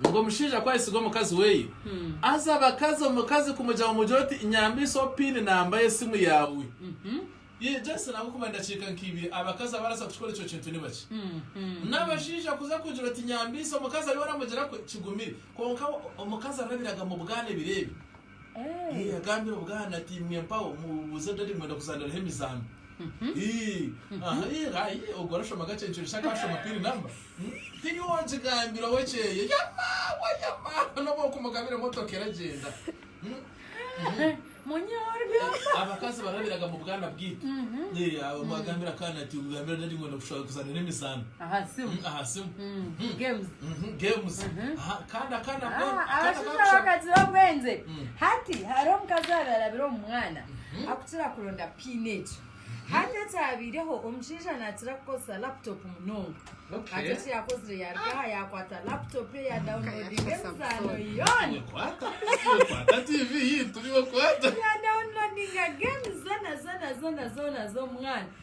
Ngu omushaija ku ayesiga omukazi weye aza abakazi omukazi kumugyaho omugire oti nyambisa pin namba y'esimu yaawe. Yee just nabwo kuba endakiika nka ibiri abakazi abaraza kukikora ekyo kintu ni bakye. N'abashaija kuza kugira oti nyambisa omukazi ariyo aramugira kwe kigumire. Kwonka omukazi arabiraga mu bwana ebiro ebyo. Agambire obwana ati imwe mpaho mubuuze dadi mwenda kuzaaniraho emizaano. Ogwo arashoma kakye nikyoreka shi akaashoma pin number. Teri ow'ogigambira ow'ekyeeyo. Yamaawa yamaawa n'obu okumugabira emotoka eragyenda. Abakazi barabiraga mu bwana bwaitu. Agambire akaana ati gambira dadi mwenda kuzaaniraho emizaano aha simu. Abashaija bakagira obwengye. Hati hariho omukazi owaabaire arabire omu mwana akukira kuronda pain egyo. Hati ekyabaireho omushaija naakira kukozesa laptop munonga. Hati eki yaakozire yaaruga aha yaakwata laptop ye yadawunilodinga emizaano yoona. Yadawunilodinga geemu zoona zoona zoona z'omwana.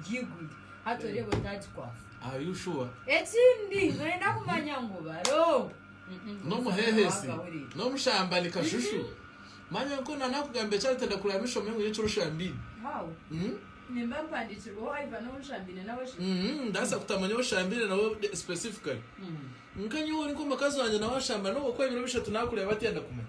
byiguru hati oreeba otagikwasa Are you sure? ekindi noyenda kumanya ngu baro N'omuheehesi, Wagahurira. n'omushambani kashushu. Manya ngu na naakugambira eki aratenda kureba ngu oshome ngu nyowe kiro oshambiine. How? Mm? nimba mpandiikirweho Ivan ou nshambiine nawe shi Mhm, ndaasa kutamanya ou oshambiine nawe de- specifically. Nka nyowe ori nk'omukazi wangye nawe ashamba n'obu okuba ebiro bishatu naakureeba atenda kumanya.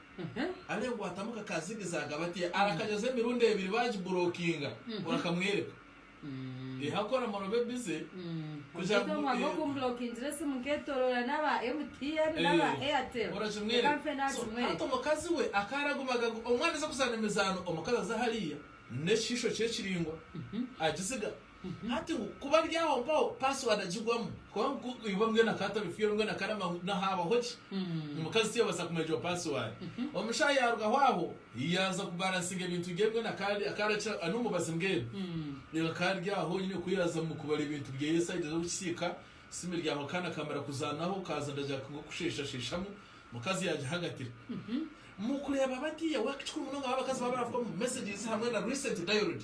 Areekwatamu kakaazigiza agaba ati, Arakajoza emirundi ebiri baagiburokinga, orakamwereka? Ehaku oramara obe bize kugira ngu. Omu oku mburokingira esimu nkeetoroora n'aba MTN n'aba Airtel. Orakimwereka? Reka nfe naakimwereka. Hati omukazi we akaba aragumaga ngu omwana aze kuzaana emizaano, omukazi aze hariya n'ekishiisho kye ekiraingwa agiziga. Hati ngu kuba ari aho mpaho password agigwamu kuba ngu iwe mwena ka tari fiyoro mwena ka namba ngu nahabaho ki omukazi tiyabasa kumanya egyo password. Omushahi yarugaho aho yaza ku balansinga ebintu bye mbwenu aka akarakira ani omubazi mbwenu reeba aka ari aho nyine ku yaza mu kubara ebintu byeye esayidi z'oku kisiika simu eri aho akaana kamara kuzanaho kaza nda jack ngu kusheshasheshamu omukazi yagihagatira mu kureeba bati yawe kikuru munonga ahu abakazi baba barafukamu messages hamwe na recent dialed.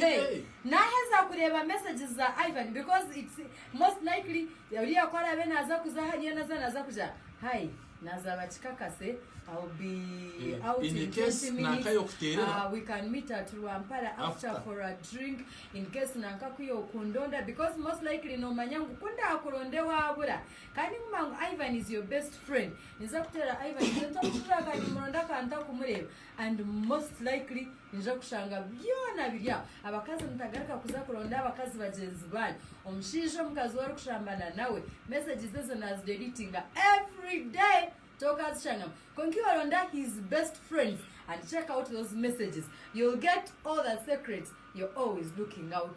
Hey naheza kureeba messages za Ivan because it's most likely oriya ku araabe naaza kuza hariya naza naaza kuja Hi naza bakikakase I'll be out in 20 minutes ahh we can meet at Rwampara after for a drink in case nanka ku iwe okundonda because most likely nomanya ngu ku ndaakuronde waabura kandi nguma ngu Ivan is your best friend ninza kuteera Ivan sente omufuka kandi nimuronda ka ntakumureeba and most likely Noija kushanga byona biri aho. Abakazi mutagaruka kuza kuronda abakazi bagyenzi banyu. Omushaija omukazi ou orikushambana nawe, mesages ezo naazidelitinga every day tokaazishangamu. Kwonka iwe ronda his best friends and check out those messages. You'll get all the secrets you're always looking out